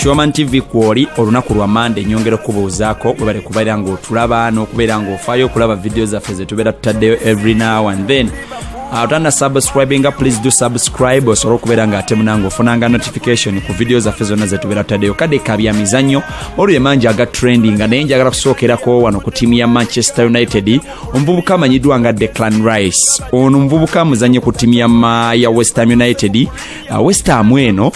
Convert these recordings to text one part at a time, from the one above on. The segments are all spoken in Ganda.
Shoman TV kwoli olunaku lwa mande nyongera okubuuzaako webale kubeera ng'otulaba n'okubeera ng'ofaayo okulaba vidiyo zaffe ze tubeera tutaddeyo every now and then atana ah, subscribinga please do subscribe osobole okubeera nga ate munange ofunanga notification ku vidiyo zaffe zonna zetubeera tutadeyo kade kabya mizannyo olwo emanji aga trendinga naye njagala kusookerako wano ku tiimu ya manchester united omuvubuka amanyiddwa nga declan rice ono omuvubuka amuzanye ku ttiimu ya westham united uh, westham eno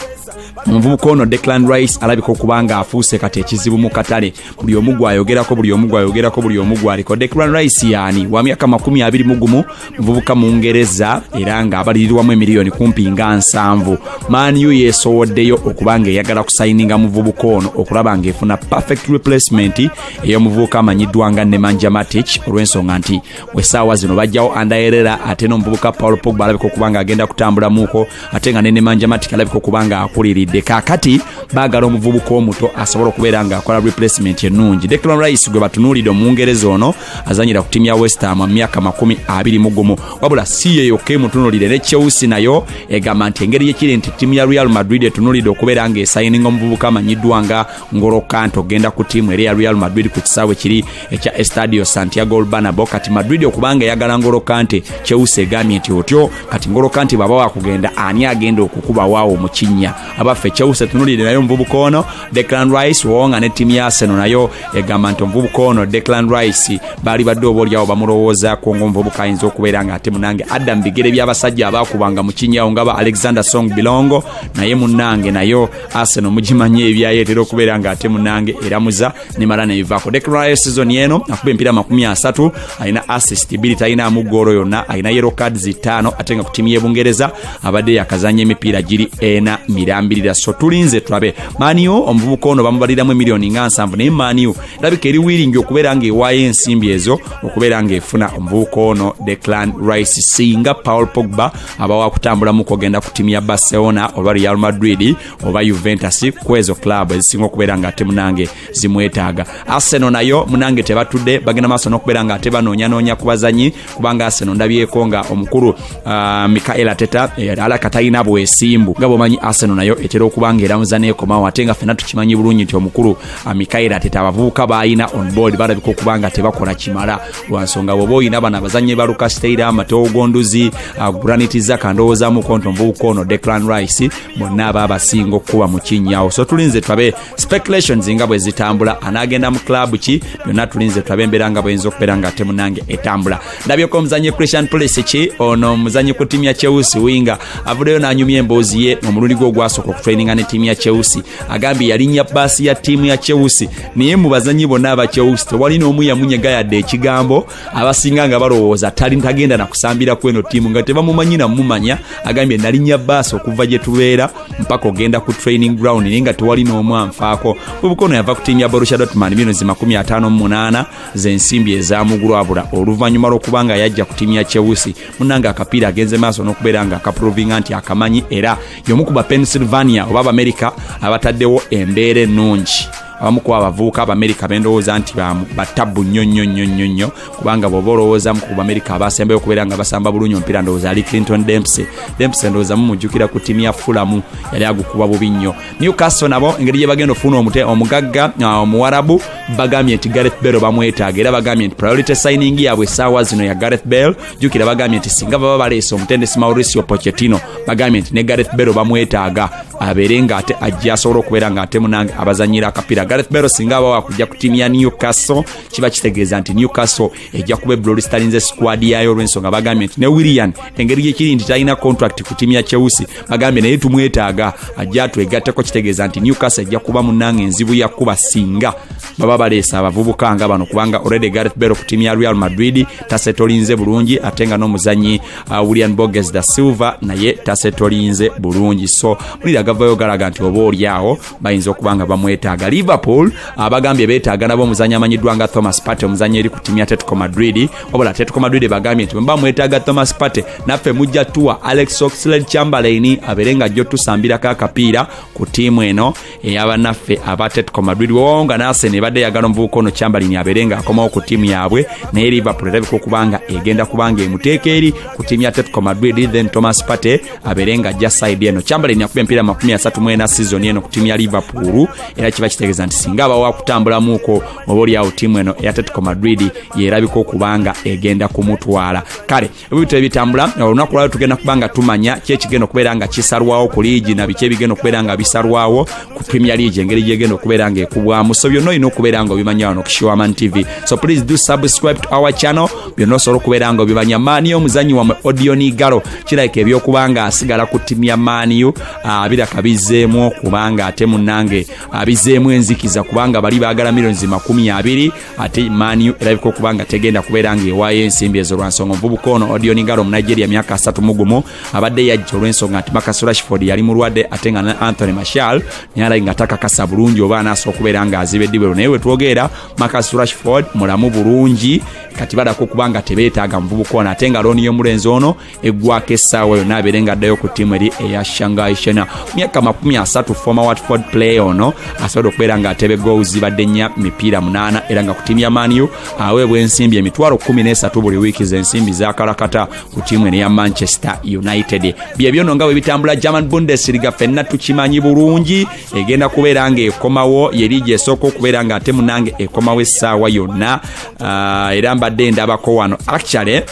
omuvubuka ono declan rice alabika okuba nga afuuse kati ekizibu mu katale buli omu gwayogerako buli omu gwayogerako buli omu gwaliko declan rice yaani wa myaka makumi abiri mu gumu muvubuka mu ngereza era ng'abalirirwamu emiliyoni kumpi nga nsanvu maniu yeesowoddeyo okuba ng'eyagala kusayininga muvubuka ono okulaba ng'efuna perfect replacement ey'omuvubuka amanyiddwa nga nemanja matic olw'ensonga nti wesaawa zino bajjawo andaerera ate n'omuvubuka paul pogba alabika okuba nga agenda kutambulamuko ate nga ne nemanja matic alabika okuba nga akuliridde kakati baagala omuvubuka omuto asobola okubeera nga akola replacement ennungi declan rice gwe batunuulidde omungereza ono azanyira ku tiimu ya westham mu myaka makumi abiri mu gumu wabula si ye yokka emutunulire ne chelsea nayo egamba nti engeri yekiri nti tiimu ya real madrid etunulidde okubeera nga esayininga omuvubuka amanyiddwa nga ngolo kante ogenda ku tiimu era ya real madrid ku kisaawe kiri ekya estadio santiago olbanabo kati madrid okubanga eyagala ngolo kante cheusa egambye nti otyo kati ngolo kante bwaba wakugenda ani agenda okukubawaawo mu kinnya abaffe cheusa tunulire nayo omuvubuka ono declan rice wonga ne tiimu ya seno nayo egamba nti omuvubuka ono declan rice baali badde oba olyawo bamulowoozaako ngaomuvubuka ayinza okubeera nga ate munange adda mu bigere by'abasajja abaakubanga mu kinnyawo nga ba alexander song bilongo naye munange nayo Arsenal mugimanyi ebyayo etera okubeera nga ate munange eramuza nemala nebivaako Declan season eno akuba empiira makumi asatu alina assist bbiri talinaamu ggoolo yonna alina yero cards ttaano ate nga ku tiimu y'ebungereza abadde yakazanya emipiira giri ena mirambirira so tulinze tulabe maniu omuvubuka ono bamubaliramu emiliyoni nga nsanvu naye maniu erabika eri wiringi okubeera nga ewaayo ensimbi ezo okubeera nga efuna omuvubuka ono Declan Rice singa Paul Pogba aba wakutambula mu kugenda ku tiimu ya barcelona oba real madrid oba juventus kwezo club ezisinga okubeera nga ate munange zimwetaaga arsenal nayo munange tebatudde bagenda maaso nokubeera nga ate banoonyanoonya ku bazanyi kubanga arsenal ndabyeko nga omukulu uh, mikael ateta eh, ala katalina bwesimbu nga bwomanyi arsenal nayo etera okuba nga eramuza nekomawo ate nga fena tukimanyi bulungi nti omukulu uh, mikael ateta abavubuka baalina on board balabika okuba nga tebakola kimala lwansonga bwoba olina bano abazannyi ba lukasteira amatoogo nduzi uh, granit zaka ndowoozamuko nti omuvubuka ono declan rice bonna aba abasinga okukuba mu kinyawo so tulinze tulabe speculations nga bwe zitambula anaagenda mu club ki byonna tulinze tulabe embeera nga bweyinza okubeera nga ate munange etambula ndabyeko omuzannyi christian police ki ono omuzannyi ku tiimu ya cheusi winga avuddeyo n'anyumya emboozi ye omulundi gwe ogwasooka okutraininga ne tiimu ya cheusi agambye yalinnya baasi ya tiimu ya cheusi naye mu bazanyi bonna aba chelsea tewali n'omu yamunyega yadde ekigambo abasinga nga balowooza tali tagenda nakusambira kweno ttiimu nga tebamumanyi namumanya agambye nalinnya baasi okuva gye tubeera mpaka ogenda ku training ground naye nga tewali n'omu anfaako bubukono yava ku ttiimu ya borusha dotman bino zi 58 zensimbi ezamugulwabula oluvannyuma lw'okuba nga yajja ku ttiimu ya chelsea munanga akapiira agenze maaso n'okubeera nga akaprovinga nti akamanyi era y'omu ku bapennsylvania oba abamerika abataddewo embeera ennungi abamu kuba abavubuka abamerika bendowooza nti batabbu nnyo nnyo nnyo nnyo nnyo kubanga bwoba olowoozamu ku bamerika abasembayo okubeera nga basamba bulungi omupiira ndowooza ali clinton dempsey dempsey ndowooza mumujjukira ku tiimu ya fulamu yali agukuba bubi nnyo newcastle nabo engeri gye bagenda ofuna omute omugagga uh, omuwarabu bagambye nti gareth bell bamwetaaga era bagambye nti priority signing yaabwe essaawa zino ya gareth bell jukira bagambye nti singa baba baleese omutendesi mauricio pochetino bagambye nti ne gareth bero bamwetaaga abeere nga ate ajja asobola okubeera nga ate munange abazanyira akapiira gareth bero singa aba wakujja ku tiimu ya newcastle kiba kitegeeza nti newcastle ejja kuba eblori sitalinze sikwadi yayo olwensonga bagambye nti ne willian engeri gyekiri nti talina contract ku tiimu ya chelsea bagambye naye tumwetaaga ajja twegatteko kitegeeza nti newcastle ejja kuba munange enzibu yakuba singa baba baleesa abavubuka nga bano kubanga already gareth bero ku tiimu ya real madrid tasetolinze bulungi ate nga n'omuzanyi uh, william boges da silver naye tasetolinze bulungi so mulira gavayo galaga nti oba olyawo bayinza okuba nga bamwetaaga liverpool abagambye uh, betaaga nabo omuzanyi amanyiddwa nga thomas pate omuzanyi eri ku tiimu ya tetco madrid wabula tetco madrid bagambye nti bwemuba mwetaaga thomas pate naffe mujja tuwa alex oxlade chamberlain abeere nga jjo tusambirako akapiira ku tiimu eno eyabanaffe aba tetco madrid wewawonga nasene ebadde yagala omuvubuka ono kyambalini abeere nga akomawo ku tiimu yaabwe naye liverpool erabika okuba nga egenda kuba nga emuteeka eri ku tiimu ya tetco madrid then thomas pate abeere nga ajja side eno kyambalini akuba empiira makumi asatu mu ena sizoni eno ku tiimu ya liverpool era kiba kitegeeza nti singa aba wakutambulamuuko oba olyawo tiimu eno eya tetco madrid yerabika okuba nga egenda kumutwala kale ebibitabo ebitambula olunaku lwalo tugenda kuba nga tumanya ki ekigenda okubeera nga kisalwawo ku liigi na biki ebigenda okubeera nga bisalwawo ku premier league engeri gyegenda okubeera nga ekubwamu so byonna olina okubeera nga obimanya wano kushiwaman tv so please do subscribe to our channel byonna osobola okubeera nga obimanya maaniyo omuzanyi wamwe odionigalo kirabika ebyokuba nga asigala ku timu ya maaniyo ah, biraka bizzeemu okubanga ate munange abizeemu ah, enzikiza kubanga bali baagala millions makumi abiri ate maniu erabika okuba nga tegenda kubeera nga ewaayo ensimbi ezo lwansonga omuvubuka ono odioni ngalo munigeria myaka asatu mugumu abadde yajja olw'ensonga nti makas rashford yali mulwadde ate nga ne anthony mashal naye alai nga takakasa bulungi oba anaasa okubeera nga aziba eddibwero naye wetwogeera makas rashford mulamu bulungi kati balako okuba nga tebeetaaga muvubuka ono ate nga looni y'omulenzi ono eggwako essaawa yonna abeere nga addayo ku ttiimu eri eya shangai shena myaka makumi asatu foma watford player ono asobola okubeera nga atebe goals zibadde nnya mipiira munaana era nga ku ttiimu ya maniu aweebwa ensimbi emitwalo kumi n'esatu buli wiiki zensimbi zakalakata ku ttiimu eno ya manchester united byebyo no nga bwe bitambula german bundesliga fenna tukimanyi bulungi egenda kubeera nga ekomawo yeri gyesooka okubeera nga ate munange ekomawo essaawa yonna ah, era mbadde ndabako wano actually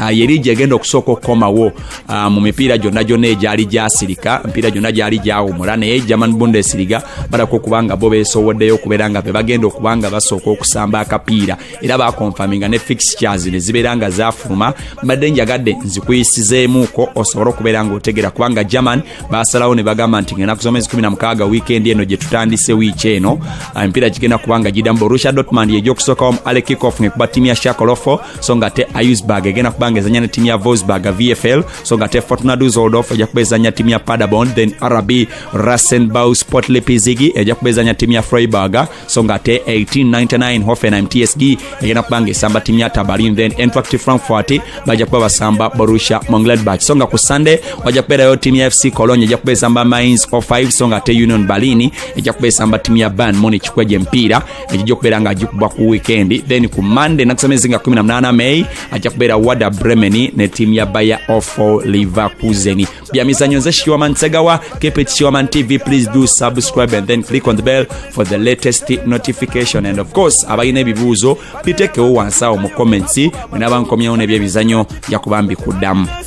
Ah, ye liigi egenda okusooka okukomawo ah, mu mipiira gyonna gyonna egyali gyasirika mipiira gyonna gyali gyawumula naye german bundesliga balako okuba nga bo beesowoddeyo okubeera nga bebagenda okuba nga basooka okusamba akapiira era bakonfaminga ne fixtures ne zibeera nga zafuluma mbadde njagadde nzikuyisizeemuuko osobole okubeera nga otegera kubanga german basalawo ne bagamba nti ngenaku zomwezi 16 wiikendi eno gye tutandise wiiki eno ah, emipiira gigenda kubanga gidamu borussia dotmand yegyokusookawo mu alekikof ngekuba tiimu ya shakolofo so nga ate iusburg egenda kuba nga ezanya ne tiimu ya vosburg vfl so nga ate fortuna dusoldof ejja kuba ezanya tiimu ya padabon then rb rasenbau sport lipizigi ejja kuba ezanya tiimu ya freiburg so nga ate 1899 hoffenheim tsg egenda kuba nga esamba tiimu ya tabalin then entract frankfurt bajja kuba basamba borussia mongledbach so nga ku sunday wajja kubeerayo tiimu ya fc cologne ejja kuba esamba mines o5 so nga ate union berlin ejja kuba esamba tiimu ya ban munich kwejo empiira egijja okubeera nga agikuba ku weekend then ku monday nakusemezi nga 18 may ajja kubeera wada bremen ne tiimu ya baya ofo liverkusen bya mizanyo nze shiwaman segawa keep it shiwaman tv please do subscribe and then click on the bell for the latest notification and of course abalina ebibuuzo bitekewo wansi awo mu comments mwenaba nkomyewo nebyebizanyo njakuba mbikuddamu